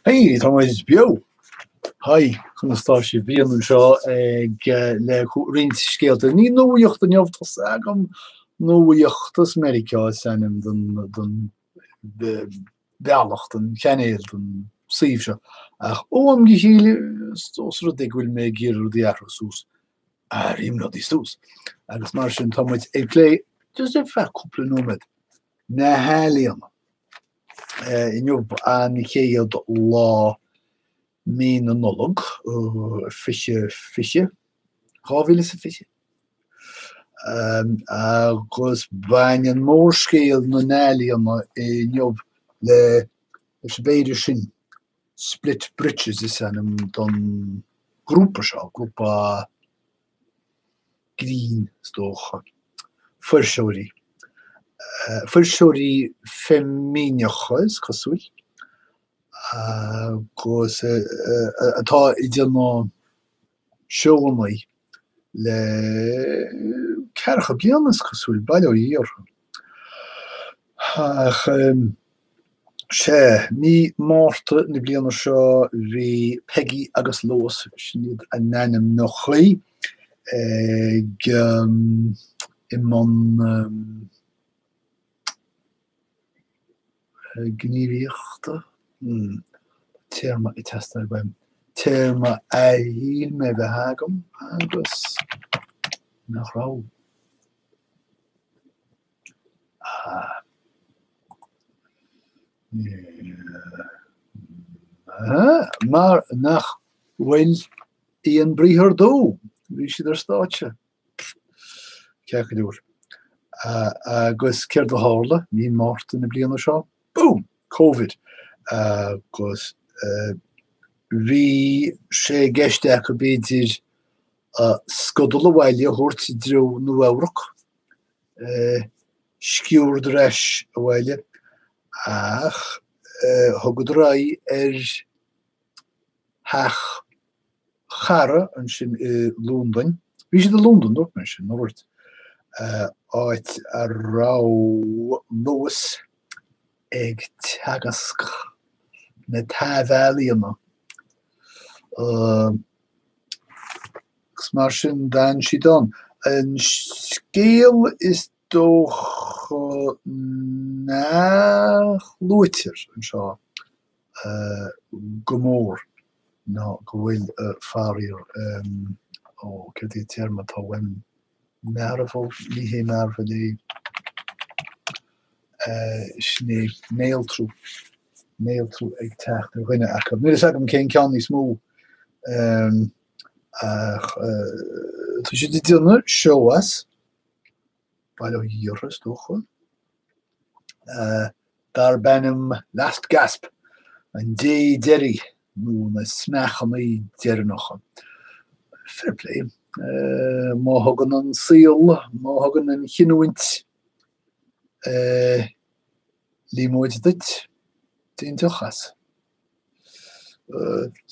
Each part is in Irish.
Hey, tá muid beo! Hi, conas tá sibh? Brian anseo ag le roinnt scéalta. Ní nuaíocht inniu tá fhios agam, Nuaíochtas Meiriceá is ainm don don bhealach, don chainéal, don suíomh seo. Ach ó am go chéile is ós rud é go bhfuil mé ag iarraidh rudaí a athrú suas, athraím rudaí suas. Agus mar sin tá muid ag plé, just ar feadh cúpla nóiméad, na healaíona. Inniu an chéad lá Mí na Nollag 2020, 2020, agus baineann mórscéal na n-ealaíona inniu le, leis an bheirt sin, Split Britches is ainm don ghrúpa seo, grúpa, grinn, is dócha. Fuirseoirí. Fuirseoirí feimineacha, is cosúil. Agus atá ag déanamh seónnaí le ceathracha bliana, is cosúil. Bail ó Dhia orthu. Ach. Sea, mí Márta na bliana seo bhí Peggy agus Lois, sin iad a n-ainmneachaí, ag i mbun gníomhaíochta, téarma ag teastáil uaim, téarma a shíl mé a bheith agam agus nach raibh. Mar nach bhfuil aon briathar dó, bhí siad ar stáitse. Ceathaireoir. Agus céard a tharla mí Márta na bliana seo? Boom! Covid. Agus bhí sé i gceist acu b'fhéidir scodal abhaile a thabhairt i dtreo Nua-Eabhrac, sciúrd ar ais abhaile ach thugadar aghaidh ar theach chara ansin i Londain, bhí siad i Londain dúirt mé sin, ar dhúirt, áit a raibh Lois ag teagasc na taibhealaíona. Agus mar sin d'fhan siad ann. An scéal is dócha nach luaitear anseo go mór ná go bhfuil faraor, ó, céard é an téarma atá uaim, mearbhall, ní hé mearbhall é, sin é néaltrú, néaltrú ag teacht ar dhuine acu. Níl fhios agam cén ceann níos mó ach tá siad ag déanamh seó as, bail ó Dhia orthu is dócha. darb ainm Last Gasp, an dé deiridh nó na smeachanaí deireanacha. Fair play. Má thugann an saol, má thugann an chinniúint líomóid duit, déan deoch as.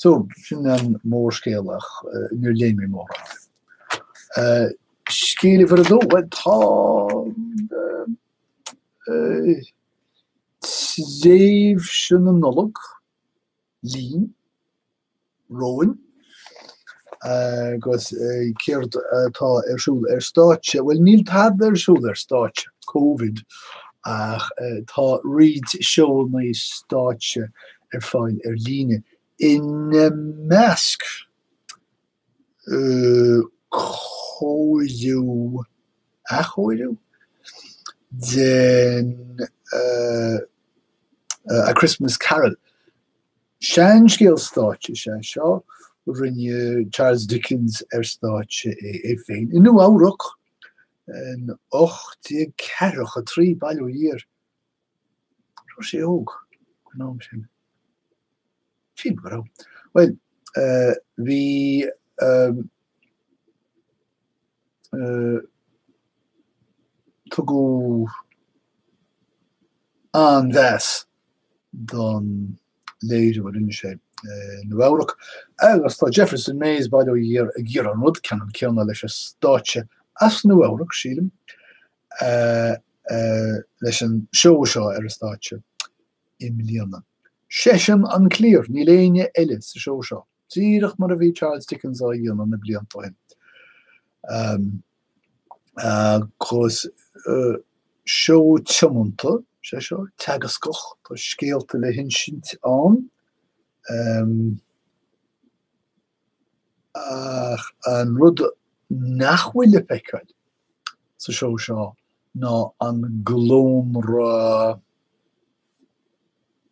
So sin an mórscéal ach níor léigh mé mór as. Scéal uimhir a dó, bhuel tá tréimhse na Nollag linn, romhainn agus céard atá ar siúl ar stáitse? Bhuel níl tada ar siúl ar stáitse, Covid, ach tá roinnt seóanna stáitse ar fáil ar líne, ina measc cóiriú, athchóiriú? den A Christmas Carol. Seanscéal stáitse is ea seo. Rinne Charles Dickens ar stáitse é é féin i Nua Eabhrac in ocht déag ceathracha a trí, bail ó Dhia air. Raibh sé óg an am sin? Sílim go raibh. Bhuel, bhí Tugadh an-mheas don léiriú a rinne sé i Nua-Eabhrac agus tá Jefferson Mays, bail ó Dhia air, ag iarraidh an rud ceannann céanna leis an stáitse as Nua-Eabhrac, sílim, leis an seó seo ar an stáitse i mbliana. Seisean an cliar, níl éinne eile sa seó seo. díreach mar a bhí Charles Dickens á dhéanamh na blianta ó shin agus seó tiomanta is ea seo, teagascach, tá scéalta le hinsint ann ach an rud nach bhfuil le feiceáil sa seó seo ná an glónra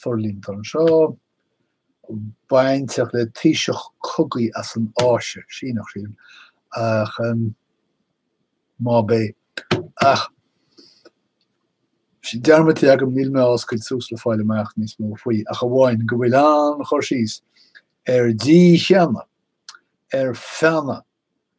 forlíonta anseo. bainteach le taoiseach cogaidh as an Áise, Síneach sin, ach má bé ach tá sé dearmadta agam, níl mé á oscailt suas le fáil amach níos mó faoi ach amháin go bhfuil an-chur síos ar dícheannadh ar feannadh.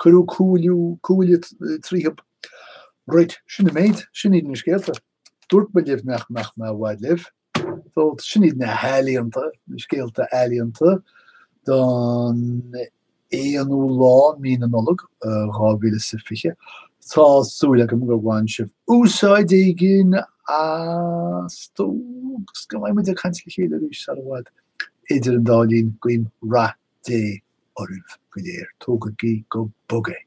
Cuireadh cúil tríothub. Raight, sin an méid, sin iad na scéalta. Dúirt mé libh nach mbeadh mé i bhfad libh. So, sin iad na healaíonta, na scéalta ealaíonta don 1ú lá mí na Nollag 2020. Tá súil agam gur bhain sibh úsáid éigin astu agus go mbeidh muid ag caint le chéile arís sar i bhfad. Idir an dá linn, guím rath Dé oraibh go léir. Tógaigí go bog é.